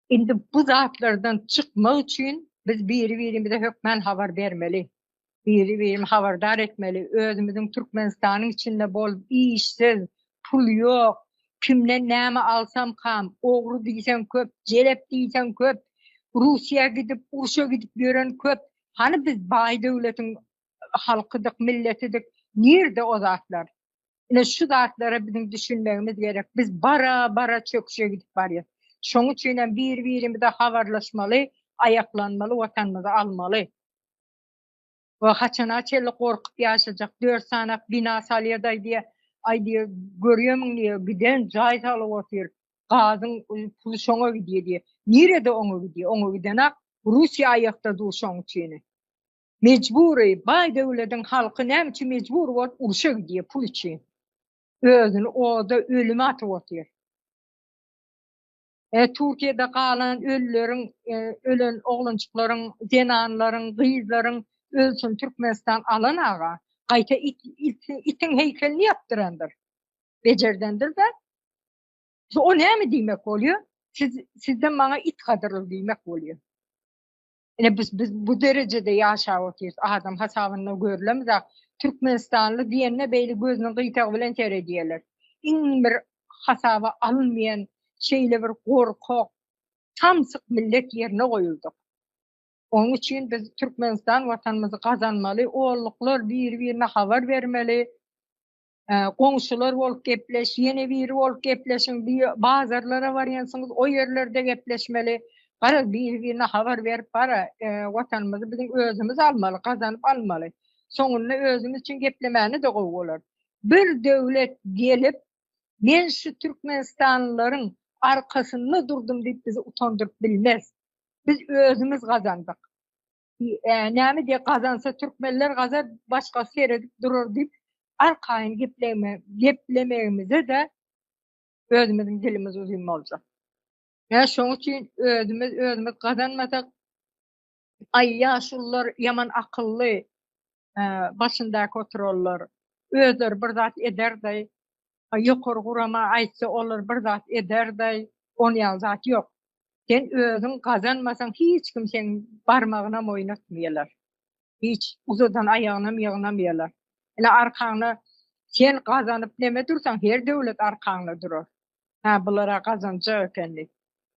Indi bu zatlardan çykmak üçin biz biri-birimize hökmän habar bermeli. Biri-birimi habardar etmeli. Özümiziň Türkmenistanyň içinde bolup işsiz, pul ýok, kimden näme alsam kam, ogry diýseň köp, jelep diýseň köp, Russiýa gidip, urşa gidip ýören köp. Hany biz baý döwletiň halkydyk, milletidik, nirde o zatlar? Ine şu zatlara biziň düşünmegimiz gerek. Biz bara-bara çöküşe gidip barýas. Şoň üçin hem bir-birimize habarlaşmaly, aýaklanmaly, watanymyzy almaly. We haçana çenli gorkup ýaşajak? Dört sanak bina salýadaý diýe, aý diýe, görýämiň diýe, giden jaý salyp otyr. Gazyň puly şoňa gidýär diýe. Nirede oňa gidýär? Oňa gidenak Russiýa aýakda dur şoň üçin. Mejbury, baý döwlediň halky näme üçin mejbur bolup urşa gidýär pul üçin. Özüni oda, ölüme atyp otyr. E, Türkiýede galan ölüleriň, e, ölen oglanjyklaryň, zenanlaryň, gyzlaryň ölsün Türkmenistan alan aga. Gaýta it, it, itiň heýkelini ýapdyrandyr. Bejerdendir-de. Şu o näme diýmek bolýar? Siz, sizden maňa it gadyrly diýmek bolýar. Ine biz biz bu derejede ýaşap otyrs. Adam hasabynda görlem zat. Türkmenistanly diýende beýle gözüniň gyýtagy bilen seredýärler. Iň bir hasaba alynmaýan şeýle bir gorkak, samsyk millet ýerine goýuldyk. Onuň üçin biz Türkmenistan watanymyzy gazanmaly, olluklar biri-birine habar bermeli. goňşular bolup gepleş, ýene biri bolup gepleşiň, bazarlara barýansyňyz, o ýerlerde gepleşmeli. Garaz, biri-birine habar berip, bara, Watanymyzy biziň özümiz almaly, gazanyp almaly. Soňunda özümiz üçin geplemäni-de gowy bolar. Bir döwlet gelip, men şu türkmenistanlylaryň arkasynda durdum diýip bizi utandyryp bilmez. Biz özümiz gazandyk. Näme diye gazansa Türkmenler gazar başka seredip durur diýip arkaýyn gepleme geplemegimize de özümiziň dilimiz uzun boljak. Ya şoň üçin özümiz özümiz gazanmasak ay ýaşullar yaman akylly e, başyndaky oturarlar. Özleri bir zat ederdi. Ýokary gurama aýtsa olar bir zat ederdaý on ýaly zat ýok. Sen özüň gazanmasaň hiç kim seň barmagynam oýnatmaýalar. Hiç uzadan aýagynam ýygnamaýalar. Ine arkaňda sen gazanyp neme dursaň her döwlet arkaňda durar. Hä bulara gazanjak ekeni.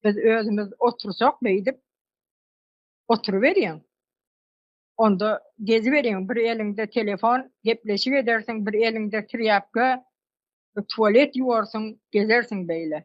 Biz özümiz otursak beýdip oturyberýäň. Onda geziberiň, bir eliňde telefon, gepleşik edersiň, bir eliňde trýapka, tualet ýuwarsyň, gezersiň beýle.